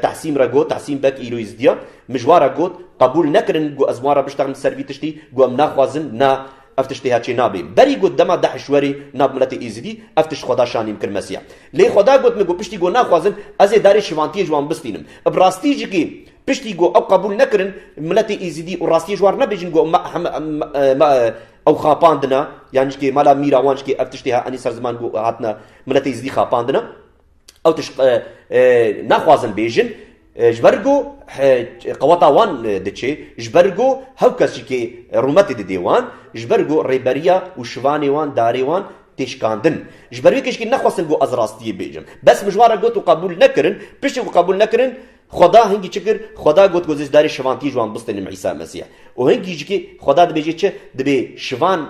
Speaker 1: Tahsîm re got, Tahsîm Bek îro Îzdiya, min ji wan re got qebûl nekirin ku ez wan re biştexim ser vî tiştî ku em naxwazin na Ev tişt têha çênabê. Berî got dema DAIŞ werê nav miletê Êzidî, ev tişt xweda şanîm kir Mesiya. Lê xweda got min ku piştî ku naxwazin ez ê darê şivantiyê ji wan bistînim. Bi rastî jî ku piştî ku ew qebûl nekirin miletê Êzidî û rastiyê ji wan nebêjin ku ew xapandine, yan jî mala mîra wan jî ev tişt têha enî ser ziman ku hatine miletê Êzidî xapandine. Ew tişt naxwazin bêjin ji ber ku qeweta wan diçe, ji ber ku hew kes jî kê rûmetê didê wan, ji ber ku rêberiya û şivanê wan, darê wan tê şikandin. Ji ber wê kê jî kê nexwestin ku ez rastiyê bêjim. Bes mijwar re got û qebûl nekirin. Piştî ku qebûl nekirin, Xweda hingî çi kir? Xweda got ku ez ê darê şivantiyê ji wan bistînim Îsa Mesîh. Û hingî jî kê Xweda dibêje çi? Dibê şivan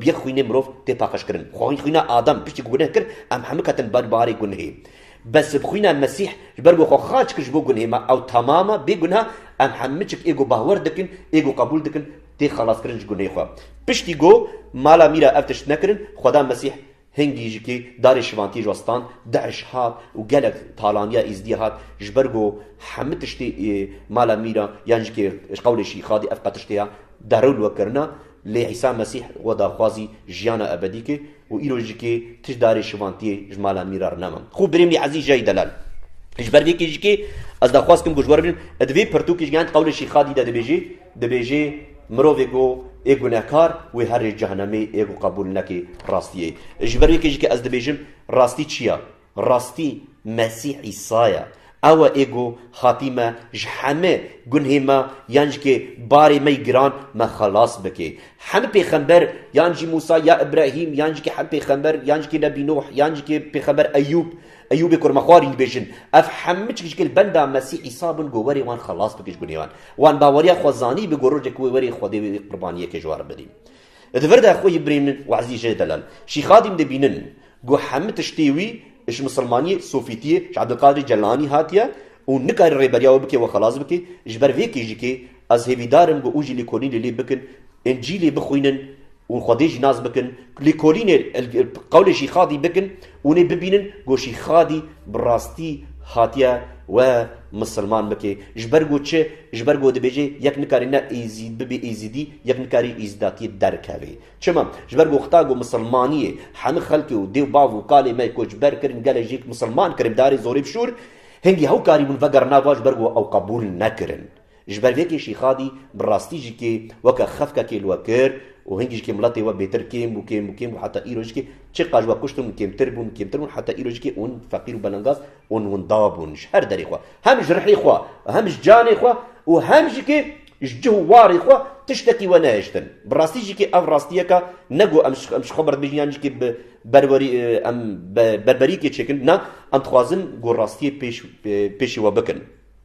Speaker 1: Bi yek xwînê mirov tê paqijkirin. Xwîn xwîna Adam piştî ku guneh kir, em hemû ketin ber barê gunehê. Bes bi xwîna Mesîh ji ber ku xwe xaç kir ji bo gunehê me ew tamam e, bê guneh em hemû çik ê ku bawer dikin, ê ku qebûl dikin tê xelaskirin ji gunehê xwe. Piştî ku mala mîra ev tişt nekirin, Xweda Mesîh Hin gîjikê darê şivantiyê ji we stand, DAIŞ hat û gelek talaniya Êzidiyê hat ji ber ku hemû tiştê ê mala mîra yan jikê ji qewlê şî xadî ev qe tiştê ya derûl we kirina lê Îsa Mesîh we daxwazî jiyana ebedî kir û îro jikê tişt darê şivantiyê ji mala mîra re nema. Xwe birêmî Ezîz Jay Delal ji ber vê gîjikê ez daxwaz kirim ku ji we re bînim, ê di vê pirtûkê ji gehên qewlê şî xadî de dibêjê, Dibêjê, Mirovê ku ê gunehkar wê herrê cehenemê ê ku qebûl neke rastiyê. Ji ber yekê jî ke ez dibêjim rastî çi ye? Rastî Mesîh Îsa ye. Ew e ê ku hatî me ji heme gunhê me yan jî ke barê me yî giran me xelas bike. Heme pêxember yan jî Mûsa ya Îbrahîm yan jî ke heme pêxember yan jî ke Nebî Nuh yan jî ke pêxember Eyûb Eyûbê ku rima xwarî dibêjin, ev hemû çik ji gel benda Mesîh Îsa bûn ku werê wan xelas bike ji gunê wan. Wan baweriya xwe zanîbû ku rojek wê werê Xwedê wê qurbaniyekê ji wan re bidîn. Di vir de xwe yê birên min û ezîz jê delal Şîxadîm de bînin ku hemû tiştê wî ji misilmaniyê, sofîtiyê, ji Ebdulkadirê Celanî hatiye û nikare rêberiya wê bike we xelas bike. Ji ber vê kêjikê ez hêvîdar im ku û jî lêkolînê lê bikin, Încîlê bixwînin Ûn xwedê jî nas bikin, lêkolînê qewlê Şîxadî bikin û nê bibînin ku Şîxadî bi rastî hatiye we misilman bike. Ji ber ku çi? Ji ber ku dibêje yek nikarî ne êzîd bibê êzîdî, yek nikarî êzîdatiyê derkeve. Çima? Ji ber ku xeta ku misilmaniyê hemû xelkê û dêw bav û kalê me koçber kirin, gelê jêk misilman kirin bi darê zorê bi şûr, hingî hew karîbûn vegerna va ji ber ku ew qebûl nekirin. Ji ber vê kêşî Xadî bi rastî jî kê weke xefkekê li we kir û hingî jî kê miletê we bêtir kêm bû, kêm bû, kêm bû heta îro jî kê çiqas ji we kuştin û kêmtir bûn, kêmtir bûn heta îro jî kê hûn feqîr û belengaz ûn winda bûn ji her derê xwe hem ji rihê xwe û hem ji canê xwe û hem jî kê ji cih û warê xwe tiştekî we nehiştin. Bi rastî jî kê ev rastiyeka ne ku em ji xwe berdibêjin yan jî kê bi berwerî em berberiyekê çêkin na em dixwazin ku rastiyê pêş pêşî we bikin.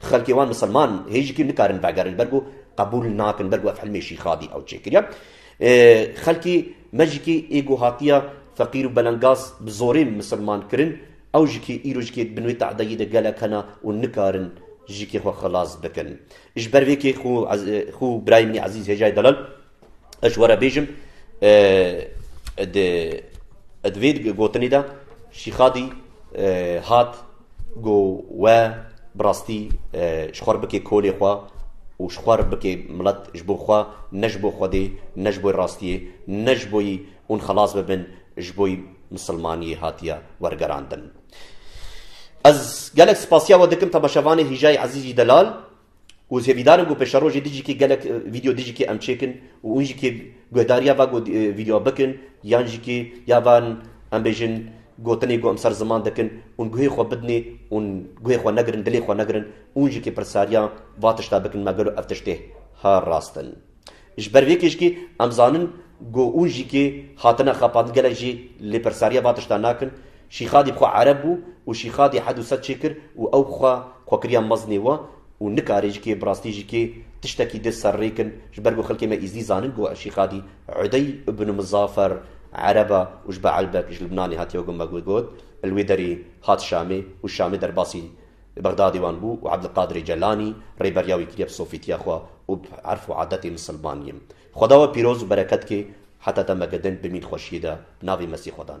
Speaker 1: Xelkê wan misilman hê jî kî nikarin vegerin ber ku qebûl nakin ber ku ev hilmê Şîxadî ew çêkiriye. Xelkê me jî kî ê ku hatiye feqîr û belengaz bi zorê misilman kirin ew jî kî îro jî kê bin wê tehdayî de gelek hene û nikarin jî kê xwe xilas bikin. Ji ber vê kê xwe û birayê min ê ezîz Hêjayê Delal, Ez were bêjim di vê gotinê de Şîxadî hat ku we bi rastî ji xwe re bike kolê xwe û ji xwe re bike milet ji bo xwe ne ji bo Xwedê ne ji bo rastiyê ne ji bo hûn xelas bibin ji bo misilmaniyê hatiye wergerandin. Ez gelek spasiya we dikim temeşevanê Hîjayê Ezîzî Delal. Û zê vîdarin ku pêşero jî dijîkê gelek vîdeo dijîkê em çêkin û hûn jîkê guhdarîya va vîdeoa bikin yan jîkê ya van em bêjin gotinê ku em ser ziman dikin hûn guhê xwe bidinê hûn guhê xwe negirin dilê xwe negirin hûn jîkê pirsariya va tişta bikin me gelo ev tiştê ha rast in. Ji ber vê keşkê em zanin ku ûn jî kê hatine xapandin gelek jî lê pirsariya van tiştan nakin. Şîxadî bi xwe ereb bû û Şîxadî hed û sed çê kir û ew bi xwe xwe kiriya mezinê we û nikarê ji kê bi rastî ji kê tiştekî dê serrêkin ji ber ku xelkê me Îzidî zanin ku Şîxadî Udey ibn Mizafer ereb e û ji Beelbek ji Libnanê hatiye ku me wê got li wê derê hat Şamê û Şamê derbasî Li Bexdadê wan bû û Ebdulkadirê Celanî rêberiya wî kiriye bi sofîtiya xwe û bi erf û adetên misilmaniyê. Xweda we pîroz û bereket ke heta demeke din bimîn xweşiyê de bi navê Mesî xwe dan.